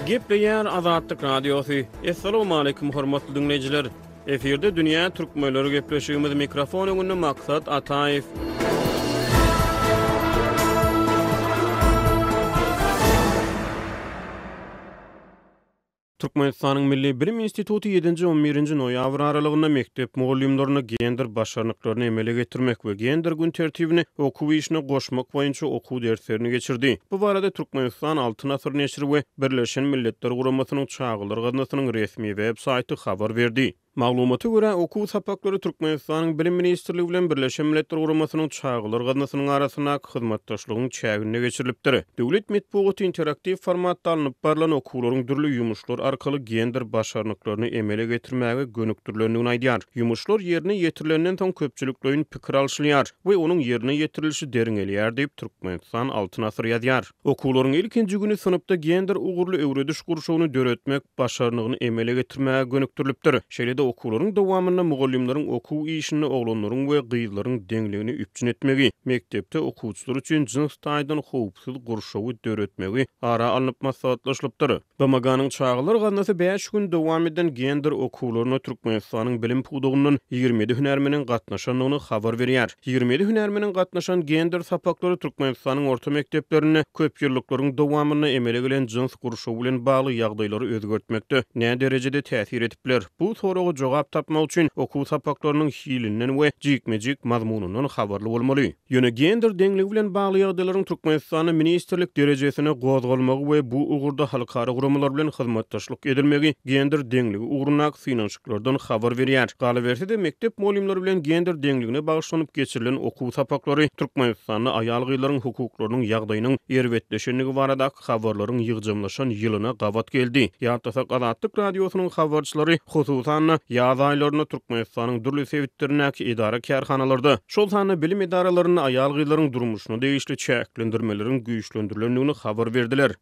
Gepleýär Azatlyk Radiosy. Assalamualaikum hormatly diňleýjiler. Efirde dünýä türkmenleri gepleşigimiz mikrofon öňünde Maksat Ataýew. Türkmenistanyň Milli bilim instituty ýedinji, on birinji noýabr aralygynda mekdep mugallymlaryna gender başarnyklaryny emele getirmek we gender gün tertibini okuw işine goşmak boýunça okuw derslerini geçirdi. Bu barada Türkmenistan Altyn asyr neşiri we Birleşen Milletler Guramasynyň Çagalar gaznasynyň resmi web saýty habar berdi. Maglumata görä, okuw sapaklary Türkmenistanyň Bilim ministrligi bilen Birleşen Milletler Guramasynyň Çagalar gaznasynyň arasyndaky hyzmatdaşlygyň çäginde geçirilipdir. Döwlet metbugaty interaktiw formatda alnyp barlan okuwlaryň dürli ýumuşlar arkaly gender başarnyklaryny emele getirmäge gönükdirilendigini aýdýar. Ýumuşlar ýerine ýetirilenden soň köpçülikleýin pikir alşylýar we onuň ýerine ýetirilişi derňelýär diýip, Türkmenistan Altyn asyr ýazýar. Okuwlaryň ilkinji güni synpda gender ugurly öwrediş gurşawyny döretmek başarnygyny emele getirmäge gönükdirilipdir. Şeýle-de okuwlaryň dowamynda mugallymlaryň okuw işinde oglanlaryň we gyzlaryň deňligini üpjün etmegi, mekdepde okuwçylar üçin jyns taýdan howpsuz gurşawy döretmegi ara alnyp maslahatlaşylypdyr. BMG-niň Çagalar gaznasy bäş gün dowam eden gender okuwlaryna Türkmenistanyň bilim pudagyndan ýigrimi ýedi hünärmeniň gatnaşandygyny habar berýär. Ýigrimi ýedi hünärmeniň gatnaşan gender sapaklary Türkmenistanyň orta mekdeplerinde köpýyllyklaryň dowamynda emele gelen jyns gurşawy bilen bagly ýagdaýlary özgertmekde näderejede täsir edip biler? Bu soraga jogap tapmak üçin okuw sapaklarynyň hilinden we jikme-jik mazmunyndan habarly bolmaly. Ýöne gender deňligi bilen bagly ýagdaýlaryň Türkmenistanda ministrlik derejesine gozgalmagy we bu ugurda halkara guramalar bilen hyzmatdaşlyk edilmegi gender deňligi ugrundaky synanyşyklardan habar berýär. Galyberse-de, mekdep mugallymlary bilen gender deňligine bagyşlanyp geçirilen okuw sapaklary Türkmenistanda aýal-gyzlaryň hukuklarynyň ýagdaýynyň erbetleşendigi barada Azatlyk habarlaryň ýygjamlaşan ýylyna gabat geldi. Ýatlasak, Azatlyk Radiosynyň habarçylary, hususan-da, ýaz aýlarynda Türkmenistanyň dürli sebitlerindäki edara-kärhanalarda, şol sanda bilim edaralarynda aýal-gyzlaryň durmuşyna degişli çäklendirmeleriň güýçlendirilendigini habar berdiler.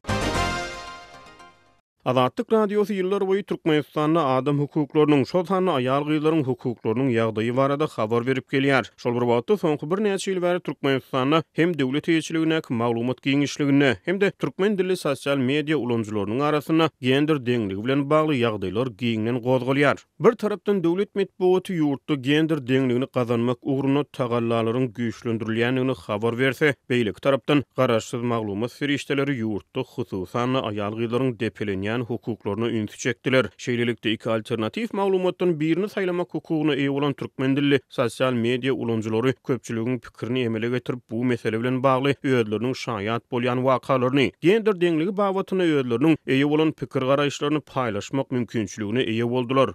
Azatlyk Radiosy ýyllarboýy Türkmenistanda adam hukuklarynyň, şol sanda aýal-gyzlaryň hukuklarynyň ýagdaýy barada habar berip gelýär. Şol bir wagtda, soňky birnäçe ýyl bäri Türkmenistanda hem döwlet eýeçiligindäki maglumat giňişliginde, hem-de türkmen dilli sosial media ulanyjylarynyň arasynda gender deňligi bilen bagly ýagdaýlar giňden gozgalýar. Bir tarapdan döwlet metbugaty ýurtda gender deňligini gazanmak ugrunda tagallalaryň güýçlendirilýändigini habar berse, beýleki tarapdan garaşsyz maglumat serişdeleri ýurtda hususan-da aýal-gyzlaryň depelenýän hukuklaryna ünsi çekdiler. Şeýlelikde, iki alternatiw maglumatdan birini saýlamak hukugyna eýe bolan türkmen dilli sosial media ulanyjylary köpçüligiň pikirini emele getirip, bu mesele bilen bagly özleriniň şaýat bolýan wakalaryny, gender deňligi babatynda özleriniň eýe bolan pikir-garaýyşlaryny paýlaşmak mümkinçiligine eýe boldular.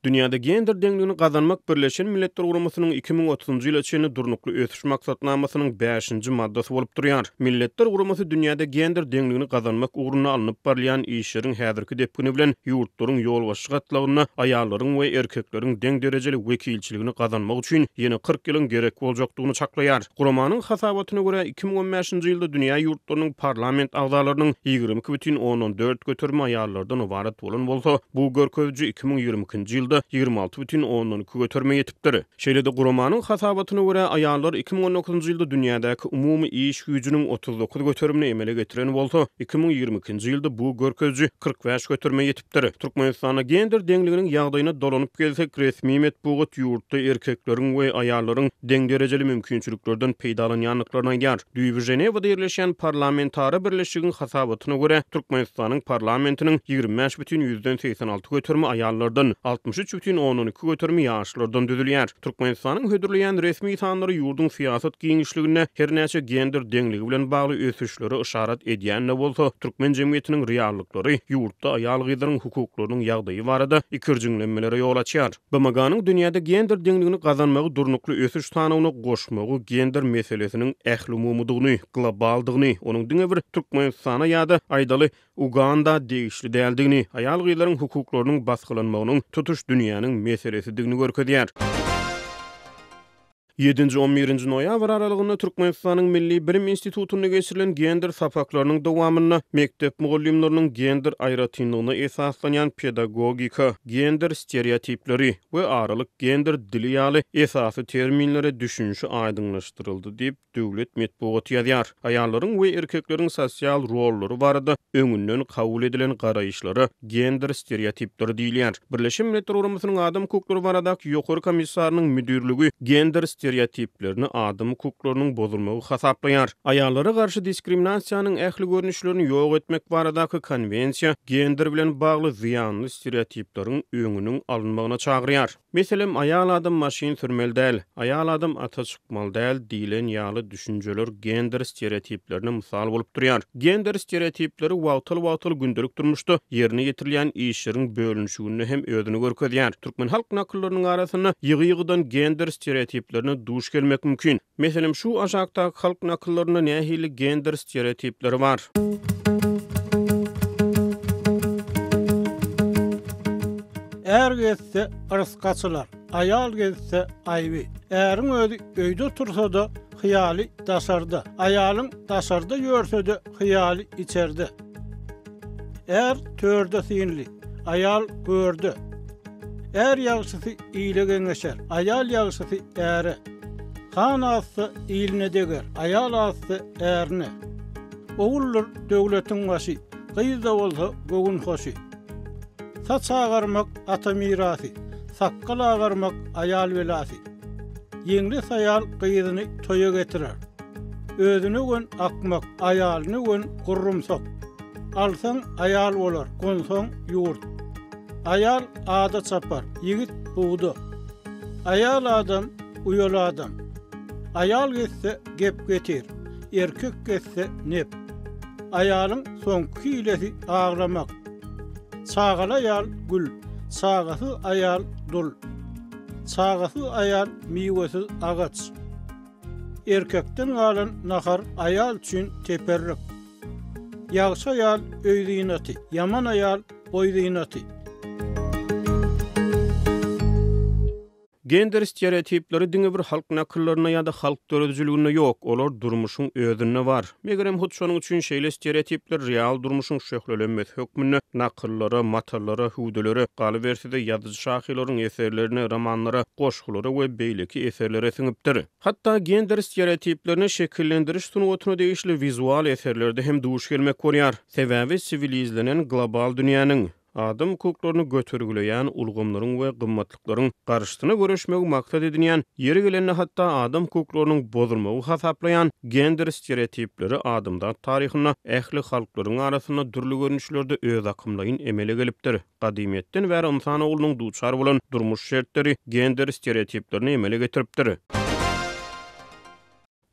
Dünýäde gender deňligini gazanmak Birleşen Milletler Guramasynyň iki müň otuzynjy ýyla çenli Durnukly ösüş maksatnamasynyň bäşinji maddasy bolup durýar. Milletler Guramasy dünýäde gender deňligini gazanmak ugrunda alnyp barylýan işleriň häzirki depgini bilen ýurtlaryň ýolbaşçy gatlagynda aýallaryň we erkekleriň deň derejeli wekilçiligi döwrebaplikini gazanmak üçin ýene kyrk ýylyň gerek boljakdygyny çaklaýar. Guramanyň hasabatyna görä, iki müň on bäşinji ýylda dünýä ýurtlarynyň parlament agzalarynyň ýigrimi iki bütin ondan dört göterimi aýallardan ybarat bolan bolsa, bu görkeziji iki müň ýigrimi ikinji ýylda ýigrimi alty bütin ondan iki göterime ýetipdir. Şeýle-de guramanyň hasabatyna görä, aýallar iki müň on dokuzynjy ýylda dünýädäki umumy iş güýjüniň otuz dokuz göterimini emele getiren bolsa, iki müň ýigrimi ikinji ýylda bu görkeziji kyrk bäş göterime ýetipdir. Ýetipdir. Türkmenistanda gender deňliginiň ýagdaýyna dolanyp gelsek, resmi metbugat ýurtda erkekleriň we aýallaryň deň derejeli mümkinçiliklerden peýdalanýandyklaryny aýdýar. Düýbi Ženewada ýerleşýän parlamentara birleşigiň hasabatyna görä, Türkmenistanyň parlamentiniň ýigrimi bäş bütin ýüzden segsen alty göterimi aýallardan, altmyş üç bütin ondan iki göterimi ýaşlardan düzülýär. Türkmenistanyň hödürleýän resmi sanlary ýurduň syýasat giňişliginde hernäçe gender deňligi bilen bagly ösüşlere yşarat edýän-de bolsa, türkmen jemgyýetiniň reallyklary, ýurtda aýal-gyzlaryň hukuklarynyň ýagdaýy barada ikirjiňlenmelere ýol açýar. BMG-niň dünýäde gender deňligini gazanmagy durnukly ösüş sanawyna goşmagy gender meselesiniň ählumumydygyny, globaldygyny, onuň diňe bir Türkmenistana ýa-da, aýdaly, Uganda degişli däldigini, aýal-gyzlaryň hukuklarynyň basgylanmagynyň tutuş dünýäniň meselesidigini görkezýär. Ýedinji-on birinji noýabr aralygynda Türkmenistanyň Milli bilim institutynda geçirilen gender sapaklarynyň dowamynda mekdep mugallymlarynyň gender aýratynlygyna esaslanýan pedagogika, gender stereotipleri we aralyk gender dili ýaly esasy terminlere düşünişi aýdyňlaşdyryldy diýip, Döwlet metbugaty ýazýar. Aýallaryň we erkekleriň sosial rollary barada öňünden kabul edilen garaýyşlara gender stereotipleri diýilýär. Birleşen Milletler Guramasynyň Adam hukuklary baradaky Ýokary komissarynyň müdirligi gender stereotiplerini adam hukuklarynyň bozulmagy hasaplaýar. Aýallara garşy diskriminasiýanyň ähli görnüşlerini ýok etmek baradaky konwensiýa gender bilen bagly zyýanly stereotipleriň öňüniň alynmagyna çagyrýar. Meselem, aýal adam maşyn sürmeli däl, aýal adam ata çykmaly däl diýlen ýaly düşünjeler gender stereotiplerine mysal bolup durýar. Gender stereotipleri wagtal-wagtal gündelik durmuşda ýerine ýetirilýän işleriň bölünişiginde hem özüni görkezýär. Türkmen halk nakyllarynyň arasynda ýygy-ýygydan gender stereotiplerine duş gelmek mümkin. Meselem, şu aşakdaky halk nakyllarynda nähili gender stereotipleri bar? Är gezse, yrsy açylar. Aýal gezse, aýby. Äriň özi öýde tursa-da, hyýaly daşarda. Aýalyň daşarda ýörse-de, hyýaly içerde. Är törde synly, aýal görde. Är ýagşysy ile geňeşer, aýal ýagşysy äre. Han azsa, iline deger, aýal azsa, ärine. Oguldyr döwletiň başy, gyz-da bolsa göwün hoşy. Saç agarmak, ata mirasy, sakgal agarmak, aýal belasy. Ýeňles aýal gyzyny toýa getirer. Özüne gön akmak, aýalyna gön gurrumsak. Alsaň, aýal bolar, gonsaň, ýurt. Aýal ada çapar, ýigit, bugda. Aýal adam, uýaly adam. Aýal getse, gep getir, erkek getse, nep. Aýalyň soňky hilesi aglamak. Çagaly aýal, gül, çagasyz aýal, dul. Çagasyz aýal, miwesiz agaç. Erkekden galan nahar aýal üçin teperrik. Ýagşy aýal öý zynaty, ýaman aýal goý zynaty. Gender stereotipleri diňe bir halk nakyllarynda ýa-da halk döredijiliginde ýok, olar durmuşyň özünde bar. Megerem, hut şonuň üçin şeýle stereotipler real durmuşyň şöhlelenmesi hökmünde nakyllara, matallara, hüwdülere, galyberse-de, ýazyjy-şahyrlaryň eserlerine, romanlara, goşgulara we beýleki eserlere siňipdir. Hatda gender stereotiplerine şekillendiriş sungatyna degişli wizual eserlerde hem duş gelmek bolýar. Sebäbi siwilizlenen global dünýäniň, Adam hukuklaryny götergileýän ulgamlaryň we gymmatlyklaryň garşysyna göreşmegi maksat edinýän, ýeri gelende hatda adam hukuklarynyň bozulmagy hasaplaýan gender stereotipleri adamzat taryhynda ähli halklaryň arasynda dürli görnüşlerde özakymlaýyn emele gelipdir. Gadymyýetden bäri ynsan oglunyň duçar bolan durmuş şertleri gender stereotiplerini emele getiripdir.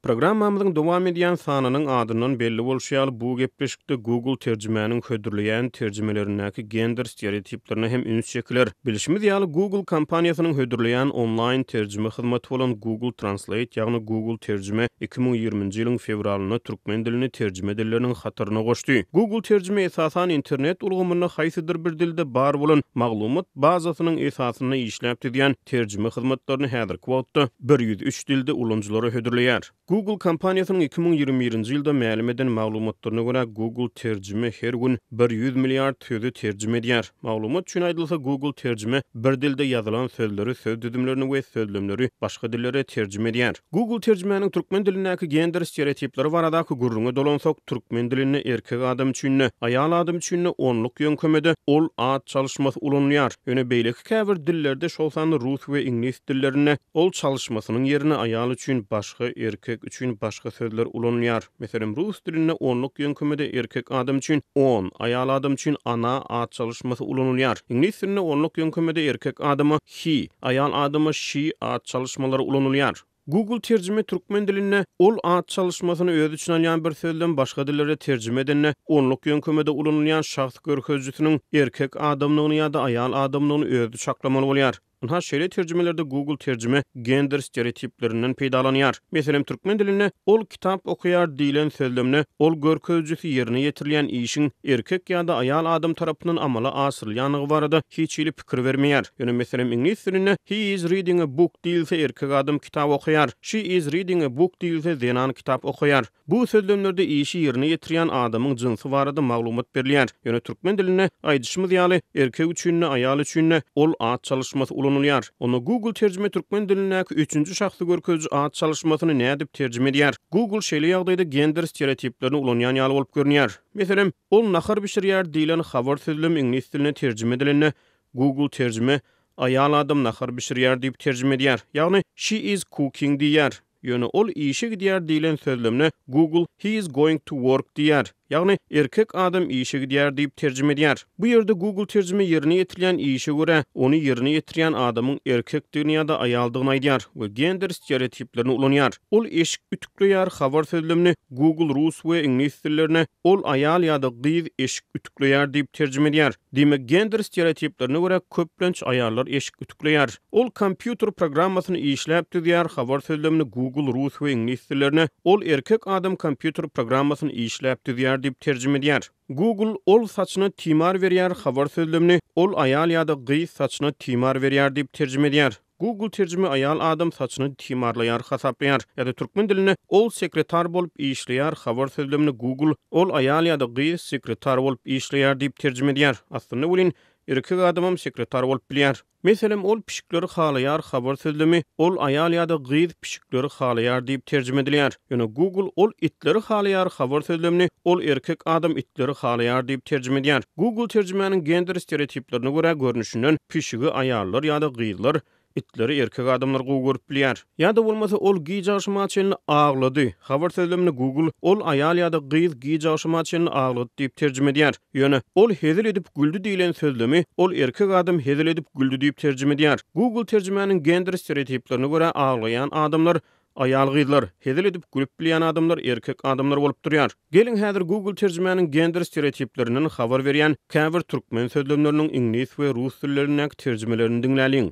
Programmamyzyň dowam edýän sanynyň adyndan belli bolşy ýaly, bu gepleşikde Google terjimäniň hödürleýän terjimelerindäki gender stereotiplerine hem üns çekiler. Bilşimiz ýaly, Google kompaniýasynyň hödürleýän onlaýn terjime hyzmaty bolan Google Translate, ýagny Google Terjime iki müň ýigriminji ýylyň fewralynda türkmen dilini terjime dilleriniň hataryna goşdy. Google Terjime esasan internet ulgamynda haýsydyr bir dilde bar bolan maglumat bazasynyň esasynda işläp düzýän, terjime hyzmatlaryny häzirki wagtda bir ýüz üç dilde ulanyjylara hödürleýär. Google kompaniýasynyň iki müň ýigrimi birinji ýylda mälim eden maglumatlaryna görä, Google Terjime her gün bir ýüz milliard sözi terjime edýär. Maglumat üçin aýdylsa, Google Terjime bir dilde ýazylan sözleri, söz düzümlerini we sözlemleri başga dillere terjime edýär. Google terjimäniň türkmen dilindäki gender stereotipleri baradaky gürrüňe dolansak, türkmen dilinde erkek adam üçin-de, aýal adam üçin-de onluk ýöňkemede ol at çalyşmasy ulanylýar. Ýöne beýleki käbir dillerde, şol sanda rus we iňlis dillerinde ol çalyşmasynyň ýerine aýal üçin başga, erkek üçin başga sözler ulanylýar. Meselem, rus dilinde onluk ýöňkemede erkek adam üçin on, aýal adam üçin ana at çalyşmasy ulanylýar. Iňlis dilinde onluk ýöňkemede erkek adama He, aýal adama she at çalyşmalary ulanylýar. Google terjime türkmen dilinde ol at çalyşmasyny özi üçin alýan bir sözden başga dillere terjime edende onluk ýöňkemede ulanylýan şahs görkezijisiniň erkek adamdygyny ýa-da aýal adamdygyny özi çaklamaly bolýar. Ynha şeýle terjimelerde Google terjime gender stereotiplerinden peýdalanýar. Meselem türkmen dilinde ol kitap okaýar diýlen sözlemde ol görkezijisi ýerine ýetirilýän işiň erkek ýa-da aýal adam tarapyndan amala aşyrylýandygy barada hiç hili pikir bermeýär. Ýöne meselem iňlis dilinde He is reading a book diýilse erkek adam kitap okaýar, She is reading a book diýilse zenan kitap okaýar. Bu sözlemlerde işi ýerine ýetirýän adamyň jynsy barada maglumat berilýär. Ýöne türkmen dilinde, aýdyşymyz ýaly, erkek üçin-de, aýal üçin-de ol at çalyşmasy ulanylýar. Onda Google terjime türkmen dilindäki üçünji şahsy görkeziji at çalyşmasyny nädip terjime edýär? Google şeýle ýagdaýda gender stereotiplerini ulanýan ýaly bolup görünýär. Meselem. Ol nahar bişirýär diýlen habar sözlem iňlis diline terjime edilende, Google terjime Aýal adam nahar bişirýär diýip terjime edýär, ýagny She is cooking diýýär. Ýöne ol işe gidýär diýlen sözlemde Google He is going to work diýýär, ýagny Erkek adam işe gidýär diýip terjime edýär. Bu ýerde Google terjime ýerine ýetirilýän işe görä, ony ýerine ýetirýän adamyň erkekdigini ýa-da aýaldygyny aýdýar we gender stereotiplerini ulanýar. Ol eşik ütükleýär habar sözlemini Google rus we iňlis dillerine Ol aýal ýa-da gyz eşik ütükleýär diýip terjime edýär. Diýmek, gender stereotiplerine görä köplenç aýallar eşik ütükleýär. Ol kompýuter programmasyny işläp düzýär, habar sözlemini Google rus we iňlis dillerine Ol erkek adam kompýuter programmasyny işläp düzýär diýip terjime edýär. Google Ol saçyna timar berýär habar sözlemini Ol aýal ýa-da gyz saçyna timar berýär diýip terjime edýär. Google terjime aýal adam saçyny timarlaýar hasaplaýar ýa-da türkmen dilinde ol sekretar bolup işleýär habar sözlemini Google ol aýal ýa-da gyz sekretar bolup işleýär diýip terjime edýär. Aslynda welin, erkek adamam sekretar bolup bilýär. Meselem, ol pişikleri halaýar habar sözlemi ol aýal ýa-da gyz pişikleri halaýar diýip terjime edilýär. Ýöne Google Ol itleri halaýar habar sözlemini Ol erkek adam itleri halaýar diýip terjime edýär. Google terjimäniň gender stereotiplerine görä görnüşinden pişigi aýallar ýa-da gyzlar, itleri erkek adamlar gowy görüp bilýär. Ýa-da bolmasa Ol giç agşama çenli aglady habar sözlemini Google Ol aýal ýa-da gyz giç agşama çenli aglady diýip terjime edýär. Ýöne Ol hezil edip güldi diýlen sözlemi Ol erkek adam hezil edip güldi diýip terjime edýär. Google terjimäniň gender stereotiplerine görä aglaýan adamlar Aýal-gyzlar, hezil edip gülüp bilýän adamlar erkek adamlar bolup durýar. Geliň häzir Google terjimäniň gender stereotiplerinden habar berýän käbir türkmen sözlemleriniň iňlis we rus dillerindäki terjimelerini diňläliň.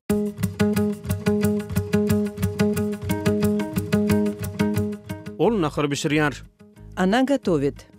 Ol nahar bişirýär. Ona gotowyt.